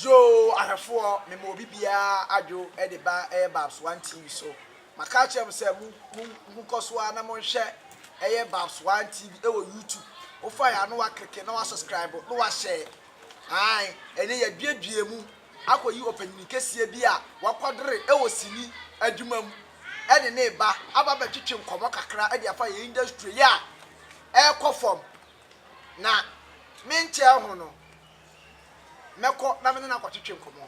Yoo ahwɛfoɔ mema obi biaa adwo de ba ɛyɛ Babs one TV so maka akyerɛ mo sɛ mo mo mo kɔso ara na monhwɛ ɛyɛ Babs one TV ɛwɔ YouTube wofa ya na wakreke na wa subscribe na wa share ae ɛnɛ yaduadua mu akɔ yi ɔpanyini kɛseɛ bi a wakwadere ɛwɔ sini adwuma mu ɛne ne ba aba bɛtwetwe nkɔmɔ kakra de afa yɛ industry yi a ɛkɔ fam na menkyɛɛ ho no mɛkɔ na me ne no akɔtwetwe nkɔmmɔ.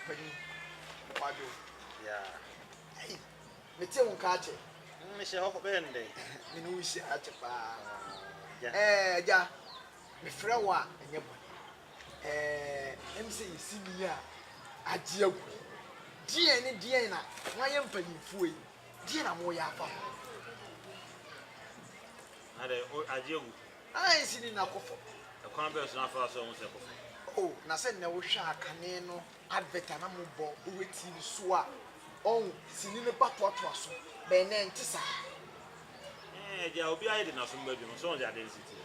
Panin, kwadwo. Yeah. Ei, mete wo nka akyɛ. Mm, mehyɛ hɔ bɛyɛ no dɛn? me ne wo nhyia akyɛ paa. Yeah. Eh, agya, mefrɛ wo a, ɛnyɛ bɔne. Eh, ɛm sɛ yɛsi ni a agye agu. Deɛn ne deɛn na moayɛ mpanimfoɔ yi? Deɛn na moyɛ afa ho? Adɛ, agye agu. Ah ensi ni na kɔfɔ. Ɛkwan bɛn so na afa so ahu sɛ kɔfɔ? Oh na sɛ nnɛ wohwɛ a kane no advert a na mo bɔ wowɛ TV so a ɔn sini no ba toatoa so but nnɛ ɛnte saa. Ɛɛ agya obi ayɛ de naso mma bi ho sɛ ɔn sɛ adeɛ no si teɛ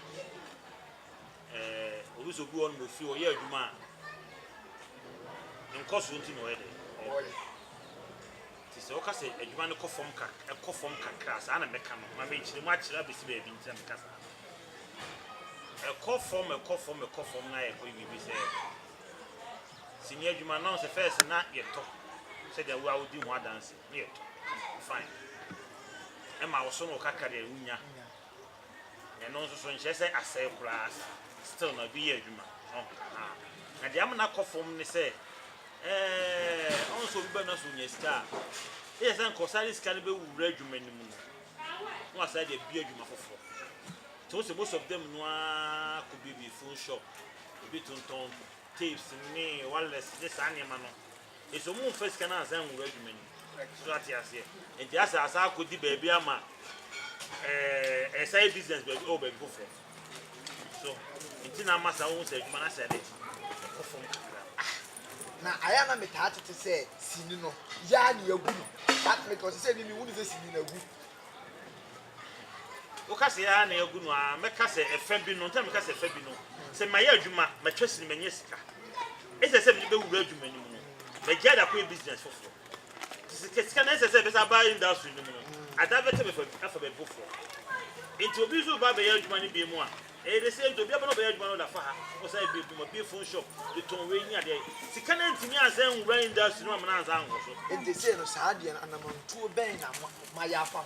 ɛɛ obi sɛ obi wɔ no mo fie ɔyɛ adwuma a nkɔsoɔ nti na ɔyɛ dɛ ɔbrɛ. Nti sɛ woka sɛ adwuma no kɔ fam kak ɛkɔ fam kakra a, saa na mɛka no. Ma menkyerɛ mu akyerɛ abɛsi baabi nti na meka saa no. Ɛkɔ fam, ɛkɔ fam, ɛkɔ fam na yɛkɔyɛ biribi sɛ sini adwuma no, na wo sɛ first na yɛtɔ sɛdeɛ wo a wodi ho adanse, na yɛtɔ, fine. Ɛma wo so no kakra deɛ wonya. Ɛno nso so nkyerɛ sɛ asɛe koraa still na obi yɛ adwuma. Na deɛ ama no akɔ fam ne sɛ ɛɛ ɔn sɛ obi bɛ no so nya sika a ɛyɛ sɛ nka ɔsan de sika no bɛwura adwuma no mu no na wasan de abie adwuma foforɔ. Nti wo sɛ most of them no ara kɔbiebie phone shop, ebi tontɔn tapes ne wireless ne saa nneɛma no. Nso ɔmo nfa sika no ansan nwura adwuma no mu. So ate aseɛ? Nti asa asa akɔdi baabi ama ɛɛ ɛside business baabi ɛwɔ baabi foforɔ. So nti na ama saa wohu sɛ adwuma no asɛ dɛ ɛkɔ fam kakra. Na ayɛ na metaa tete sɛ sini no yaa ne agu no. But mekɔ sɛ sɛ ni mehunu sɛ sini no agu. Woka sɛ yɛa na yɛagu no aa mɛka sɛ ɛfɛ bi no nti na meka sɛ ɛfɛ bi no sɛ mayɛ adwuma matwa sini manya sika ɛsɛ sɛ mede bɛwura adwuma no mu no magyae de akɔyɛ business foforɔ nti sika sika no ɛsɛ sɛ ɛbɛsa aba industry no mu no ada bɛtɛ bɛfa afa baabi foforɔ nti obi nso ba bɛyɛ adwuma no bie mu a ɛyɛ de sɛ nti obi abɛnɔ bɛyɛ adwuma no da fa ha ɔsa ɛbi bi ma bie phone shop de tɔn wei ne adeɛ sika no ntumi ansa nwura industry no amana ansa anwɔ so nti sɛ no saa deɛ no anamantuo bɛn na mayɛ afa ho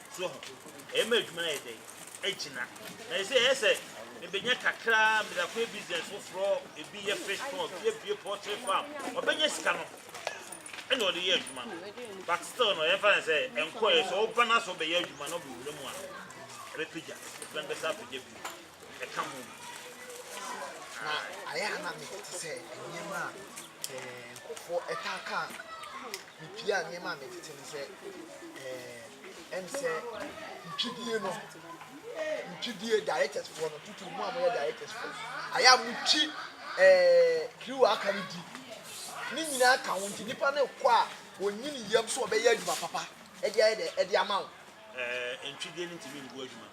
So ho ɛyɛ ma adwuma ayɛ dɛn agyina na ɛsɛ ɛyɛ sɛ mebɛnya kakra mede akɔyɛ business foforɔ ebi yɛ fish pond bi abue poultry farm ɔbɛnya sika no ɛna ɔde yɛ adwuma no but still no yɛmfa ne sɛ ɛnkɔɛ sɛ ɔba no sɛ ɔbɛyɛ adwuma no ɔbɛwura mu a ɛbɛpagya ɛbɛn bɛsa apagya bi ɛka ho ma. Na ayɛ a na mete te sɛ nneɛma a ɛɛ nkurɔfoɔ ɛtaa ka mepia nneɛma a metete no sɛ ɛɛ ɛm sɛ ntwidie no ntwidie directors foɔ no tutu mu a moyɛ directors foɔ ayɛ a motwi ɛɛ kiriwa aka no di ne nyinaa ka ho nti nipa no kɔ a wɔnyini yam so ɔbɛyɛ adwuma papa ɛde ayɛ dɛ ɛde ama wo. ɛɛ ntwidie no ntumi mbu adwuma.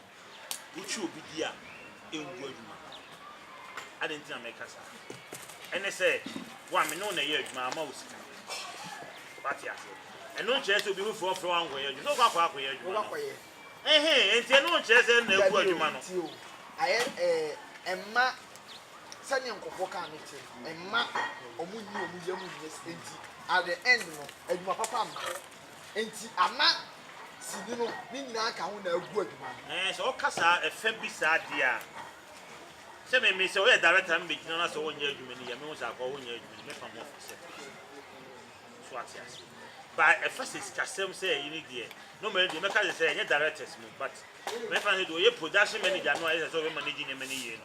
Wotwi obi di a, engu adwuma. Adɛn nti na meka saa? Ɛne sɛ, wo a me ne wo na ɛyɛ adwuma, ama wo sika. Wate aseɛ? Ɛno nkyerɛ sɛ obi bɛfrɛ wo mfrɛ wo ankɔyɛ adwuma. So wokɔ akɔ akɔyɛ adwuma no? Wobɛkɔyɛ. Ehe, enti ɛno nkyerɛ sɛ na agu Dabi o, adwuma no. tie o. Ayɛ ɛɛ, ɛmma sɛdeɛ nkurɔfoɔ ka no te no, ɛmma wɔnyi wɔn yam nyɛ sika nti, at the end no, adwuma papa mma. Enti ana sini no ne nyinaa ka ho na agu adwuma no? Ɛɛ, sɛ ɔka saa, ɛfɛ bi saa deɛ a, sɛ me, me, sɛ ɔyɛ director na me bɛ gyina na sɛ ɔnyɛ adwuma ni yɛ, me ho sɛ akɔ ɔnyɛ adwuma ni, me fa mo firi sɛ firi sɛ. So ate ase. Ba ɛfɛ sɛ sikasɛm sɛ ɛyi ni deɛ, normally deɛ mɛka sɛ sɛ ɛnyɛ directors mo, but, me fa sɛ deɛ ɔyɛ production manager no a yɛ sɛ sɛ ɔbɛ manage nneɛma ni yie no,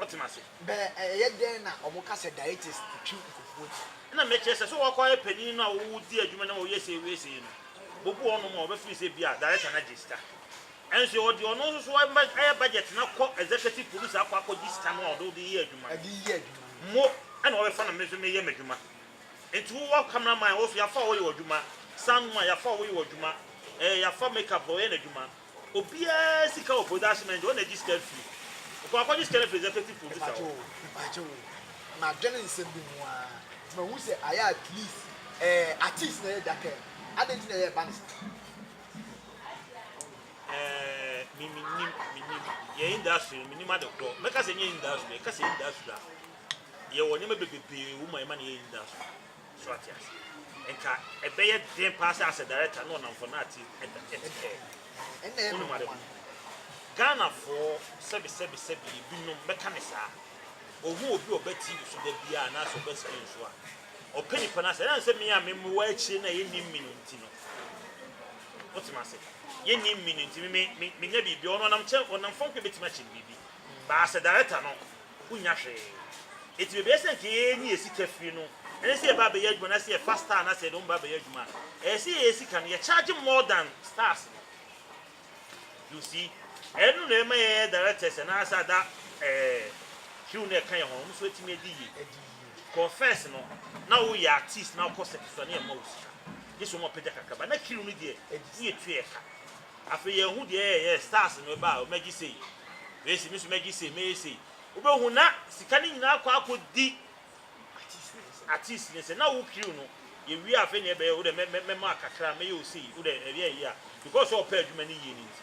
wɔtena ase. Bɛ ɛyɛ dɛn na ɔmo ka sɛ diaetes twi nkofuo ti? Ɛna mekyerɛ sɛ, sɛ wɔkɔ ayɛ panin no a wɔwɔ di adwuma na wɔyɛ sei wɔyɛ sei no, bobu wɔnom a wɔbɛfiri sɛ bi a director no agye sika. Ɛnso wɔde ɔno nso so ayɛ budget no akɔ executive producer akɔ akɔgye sika no a ɔde wode yɛ adwuma no. Ɛde yɛ adwuma no. Mo ɛna wɔbɛfa na me nso meyɛ m'adwuma. Nti wo wɔ camera man wɔ so yɛafa wo yɛ w'adwuma, sound man yɛafa wo yɛ w'adwuma, ɛɛ yɛafa makeup fo ɔyɛ n'adwuma. Obiara sika wɔ production manager hɔ na egye sika firi. Kɔ akɔgye sika no firi executive producer hɔ. Mpakyɛw o, madwen nsɛm bi ho ara nti mahu sɛ ayɛ at least ɛɛ artiste na ɛyɛ da kɛn, adɛn nti na ɛyɛ ba no saa? Ɛɛ me menim menim yɛ industry no menim ade korɔ mɛka sɛ ɛnyɛ industry ɛka sɛ industry a yɛwɔ nneɛma bebree wɔ mu a yɛma no yɛ industry. So ate aseɛ? Nka ɛbɛyɛ den paa sɛ as a director na ɔnamfo no ate ɛte pɛɛ. Wonim ade ho. Ghanafoɔ sɛbi sɛbi sɛbi ebinom mɛka no saa. Ɔhu obi a ɔba TV so da biara anaasɛ ɔba screen so a, ɔpɛ nipa no asɛm. Ɛnam sɛ me a mewɔ akyire no a yɛnnim me no nti no, wote me ase? Yɛnnim me no nti, me me menya biribi a, ɔno ɔnam kyɛ ɔnam fam koraa bɛtumi akyɛ me biribi. But as a director no, Wonnya hwee. Enti bebia sɛ nka yɛnyi yɛn sika firi no, ɛne sɛ yɛba abɛyɛ adwuma na sɛ yɛfa star na sɛ yɛde wɔn ba abɛyɛ adwuma a, ɛyɛ sɛ yɛyɛ sika no, yɛ charge more than stars no. You see? Ɛno na ɛma yɛyɛ directors anaa sɛ ada eh, hwiw no ɛka yɛn ho no, wɔn nso atumi adi yie. Confess no, na woyɛ artist na wokɔ circuit so a, na yɛmma wo sika. Gye sɛ wɔapagya kakraba. Na kiriw no deɛ, woyɛ tua ɛka. Afei yɛnhu deɛ ɛyɛ yɛ stars no ɛba a mɛgye sei Grace me nso mɛgye sei mɛyɛ sei wobɛhu na sika no nyinaa akɔ akɔdi artist no sɛ na wo crew no yɛwie afei na ɛbɛyɛ wodɛ mɛma kakra mɛyɛ wo sei wodɛ ɛyɛ yie a because sɛ ɔpɛ adwuma no yie no nti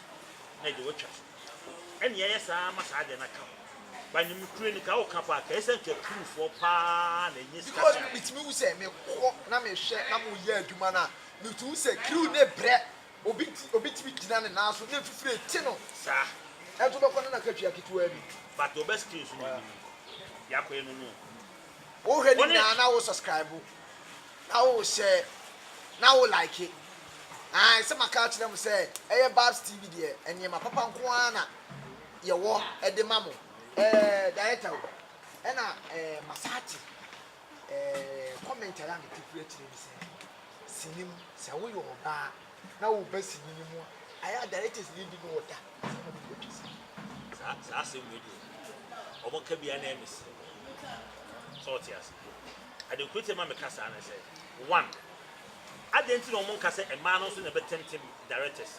na ɛde watwa so ɛne ɛyɛ saa ma saa deɛ no aka ho ba ne mekure no ka woka paa ka ɛsɛ nka crewfoɔ paa na ɛnyɛ sika sɛ metumi wu sɛ mekɔ na mehwɛ na moyɛ adwuma no a metumi wu sɛ crew ne brɛ Obi nti obetumi gyina ne nan so na afifire rete no saa. Ɛnso wobɛkɔ na n'akatua ketewaa bi. But ɔbɛ still nso na anim nkɔ. Biako yɛ no no o. Wohwɛ ne nyinaa na wo subscribe na wo share na wo like. Ae sɛ maka akyerɛ mo sɛ ɛyɛ Babs TV deɛ nneɛma papa nko ara na yɛwɔ de ma mo. Ɛɛ director o ɛna ɛɛ massage ɛɛ comment a yɛ a me te firi akyire ne sɛ sini mu sɛ woyɛ ɔbaa na woba sini no mu a ayɛ a directors ne bi no ɔda sɛ wɔn bɛ twa sini. saa saa asɛm wei deɛ wɔn ka bia na ɛyɛ me sere sɛ ɔte ase ade kuro ti ma me ka saa ne sɛ one adɛn ti na wɔn nka sɛ mmaa no nso na ɛbɛtɛmtɛm directors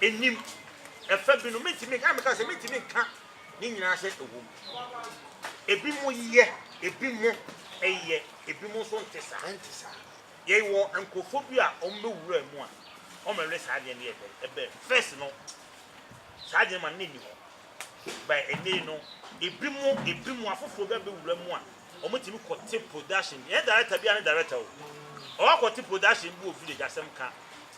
nnim. Ɛfa bi no, mentumi nka, na meka sɛ mentumi nka ne nyinaa sɛ ɛwɔ mu. Ebi mo yɛ, ebi mo ɛyɛ, ebi mo nso nte saa, ɛnte saa. Yɛ wɔ nkurɔfoɔ bi a wɔn bɛwura mu a, wɔn mɛwɛ saa adeɛ no yɛ dɛn, ɛbɛn. First no, saa adeɛ no ma ne nni hɔ. By ɛnɛ yi no, ebi mo, ebi mo afoforɔ bi abɛwura mu a, wɔn tumi kɔte production bi. Ɛyɛ director bi a ne director o. Ɔwɔ akɔte production bi wɔ village asɛm ka.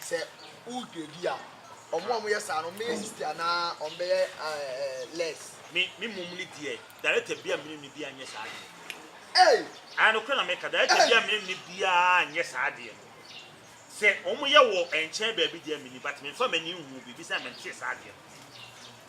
Sɛ wodwa bi a, wɔn a wɔyɛ saa no, wɔbɛyɛ sixty anaa wɔbɛyɛ less? Me me mmom no deɛ, director biara mene ne biara nyɛ saa adeɛ no. Ei! Ae, nokorɛ na meka, director biara mene ne biara nyɛ saa adeɛ no. Sɛ wɔyɛ wɔ nkyɛn baabi deɛ menim, but memfa m'ani nhuu biribi sɛ mentee saa adeɛ no.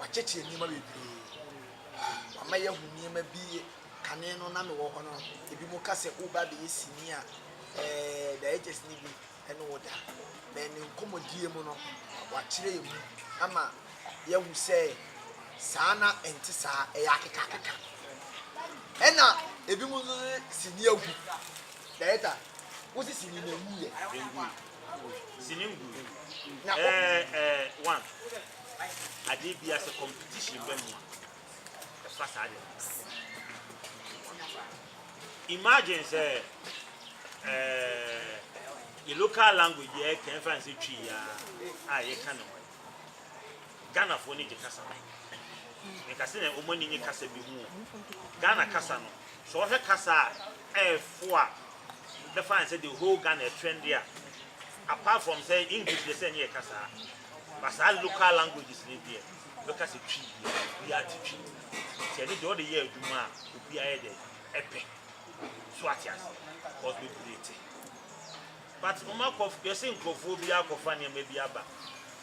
Wakyekyere nneɛma bebree. Wama yɛahu nneɛma bi kane no na mewɔ hɔ no. Ebinom ka sɛ woreba abɛyɛ sini a, ɛɛ directors no bi ne wo da. Na ne nkɔmmɔdie mu no, wakyerɛ yɛn mu ama yɛahu sɛ saa na ɛnte saa, ɛyɛ akekakeka. Ɛna ebinom nso de sini agu. Director, wo se sini na emu yɛ? Sini ngu. Na ɛɛ ɛɛ one. Adeɛ bia sɛ competition bɛ mu a, ɛfa saa deɛ no. Imagine sɛ eh, yɛ local language yɛ kɛn fa nsɛ twi ya a yɛka ne ho. Ghanafoɔ ne gye kasa. Nka sɛ na wɔn ani nye kasa bi ho. Ghana kasa no, sɛ wɔhwɛ kasa a ɛɛfo a bɛfa nsɛ the whole Ghana trend a apart from sɛ English deɛ sɛ ne yɛ kasa a But saa local languages no deɛ bɛka sɛ twi deɛ obiara te twi. Nti ɛno deɛ ɔde yɛ adwuma a obiara yɛ dɛ ɛpɛ. So ate ase? Because bebree te. But wɔn akɔ yɛsɛ nkurɔfoɔ bi akɔfa nneɛma bi aba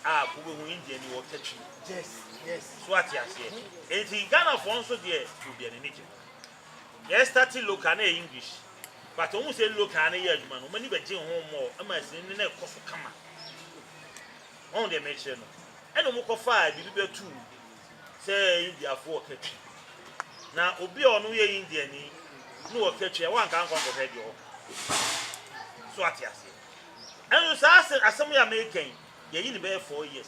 a wobɛhu India ni wɔka twi. Yes, yes. So ate aseɛ? Nti Ghanafoɔ nso deɛ obiara n'ani gye ho. Yɛ starte local na yɛ English but ɔmo sɛ local ano yɛ adwuma no ɔmo ani bɛgye ho mmɔɔ ɛma asini no na ɛkɔ so kama ɔho deɛ mekyerɛ no ɛna ɔmo kɔ faa biribi bɛtu sɛ Indiafo wɔ katwi na obi a ɔno yɛ India ni ne wɔ katwi a wanka nkɔ nkɔhwɛ deɛ ɔkɔ so ate aseɛ ɛno saa asɛm yɛ American yɛyi ne bɛyɛ four years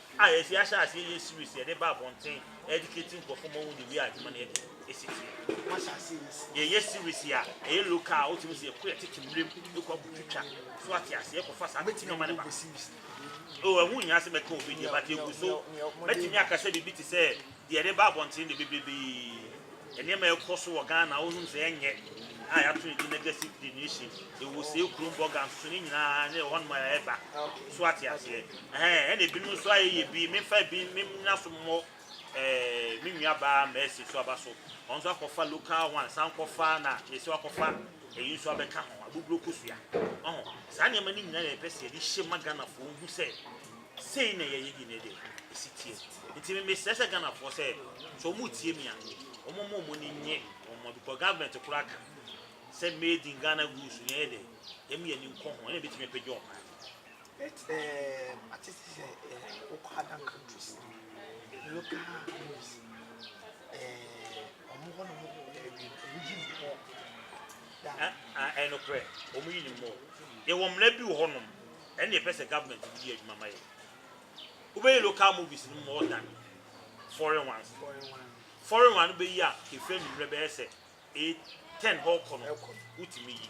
a efi ahyɛ aseɛ yɛ series yɛde ba abɔnten educate nkurɔfoɔ ma wɔn de wie adwuma no adi esi fie yɛyɛ series a ɛyɛ local a wotumi sɛ yɛkɔ yɛtete mmerem yɛkɔ abu twitwa so ate ase yɛkɔfa saa bɛti nneɛma no ba o ɛho nyinaa sɛ mɛka obi deɛ but egu so mɛtumi akasa biribi te sɛ Deɛ yɛde ba abɔnten deɛ bebrebe nneɛma a ɛkɔ so wɔ Ghana wohunu sɛ ɛnyɛ a yɛato no din negative delineation. Ɛwɔ sei kurom bɔga nso ne nyinaa ne ɛhɔnom a ɛba. So ate aseɛ? Ɛhɛn ɛna ebinom nso ayɛ yɛ bi memfa bi mennyina so mmɔ ɛɛ me nua baa Mercy so aba so. Ɔno nso akɔfa local one san kɔfa na yɛsɛ wakɔfa ɛyi nso abɛka ho abuburo kosua. Ɔho saa nneɛma no nyinaa na yɛpɛ sɛ yɛde hyɛ ma Ghanafoɔ hu sɛ Sei na yɛyɛ di nnɛ dɛ, esi teɛ. Nti me mesrɛ sɛ Ghanafoɔ sɛ, sɛ wɔn retie me a, wɔn mma wɔn ani nnye wɔn mma because government koraa ka sɛ made in Ghana goods no yɛyɛ dɛ, yɛma yɛn ani nkɔ ho, ɛna ɛbɛtumi apagya wɔn maa no. But um, ate sɛ sɛ um, wokɔ other countries no, local news, um, wɔn hɔ no mu ɛyi ne hɔ da. Ɛnokorɛ, wɔn yi ne mu. Yɛwɔ mmara bi wɔ hɔnom. Ɛne yɛpɛ sɛ government no yɛ adwuma ma yɛn. Wobɛyi local movies no more than foreign ones. Foreign one no bɛyi a kefiri anwummerɛ bɛyɛ sɛ 8 10 hɔ kɔ no wotumi yi.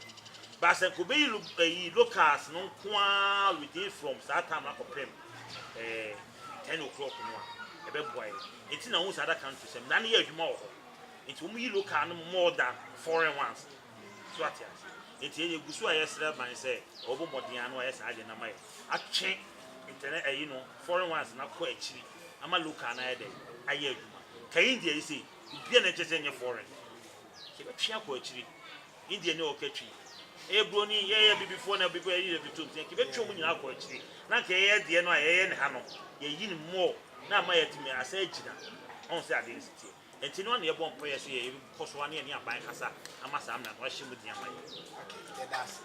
But sɛ nka wobɛyi lo- ɛyi locals no nko ara within from saa time no akɔpem eh, 10 o'clock no a ɛbɛboa yɛn. Nti na wohu sɛ other countries mmara no yɛ adwuma wɔ hɔ. Nti wɔyi local no more than foreign ones. So ate ase? Enti yɛn yegu so a yɛsrɛ ban sɛ ɔbɛbɔ mmɔden ano ayɛ saa ade no ama yɛn, atwe internet ɛyi no foreign ones no akɔ akyiri ama local no ayɛ dɛn ayɛ adwuma. Ka India yi sei, obiara na ɛkyerɛ sɛ ɛnyɛ foreign. Yɛbɛtwe akɔ akyiri. India ni a ɔka twi. Ɛyɛ buroni, yɛyɛ abibifoɔ na abibifoɔ yɛyi abibito nti anka yɛbɛtwe wɔn nyinaa akɔ akyiri na anka yɛyɛ deɛ no a yɛyɛ no ha no yɛyi no more na ama yɛatumi asɛ agyina. Ɔn sɛ adeɛ no si teɛ. Enti no a na yɛbɔ mpae yɛ sɛ yɛbɛkɔ so ara ne yɛne aban kasa ama saa mmara no ahyɛ mu den ama yɛn. Okay, yɛda ase.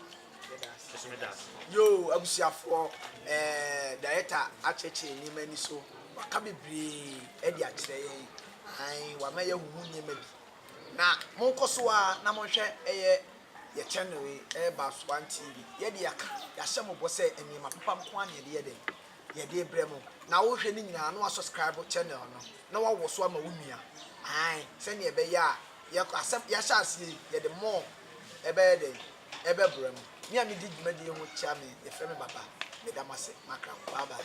Yɛda ase. Nso meda ase. Yoo, abusuafoɔ, ɛɛ, Director akyerɛkyerɛ yɛn nneɛma ani so. Waka bebree de akyerɛ yɛn. Ae, wama yɛahu mu nneɛma bi. Na monkɔ so ara na monhwɛ ɛyɛ yɛn channel yi, ɛyɛ Baswan TV. Yɛde yɛaka, yɛahyɛ mo bɔ sɛ nneɛma papa nko ara na yɛde yɛ dɛn? yɛde rebrɛ mo na wohwɛ ne nyinaa na wa subscribe channel no na wawɔ so ama wo nua ae sɛnea ɛbɛyɛ a yɛkɔ asɛm yɛahyɛ aseɛ yi yɛde more ɛbɛyɛ dɛ ɛbɛbrɛ mo me a medi dwumadie ho kyia me yɛfrɛ me baba meda mo ase makra bye bye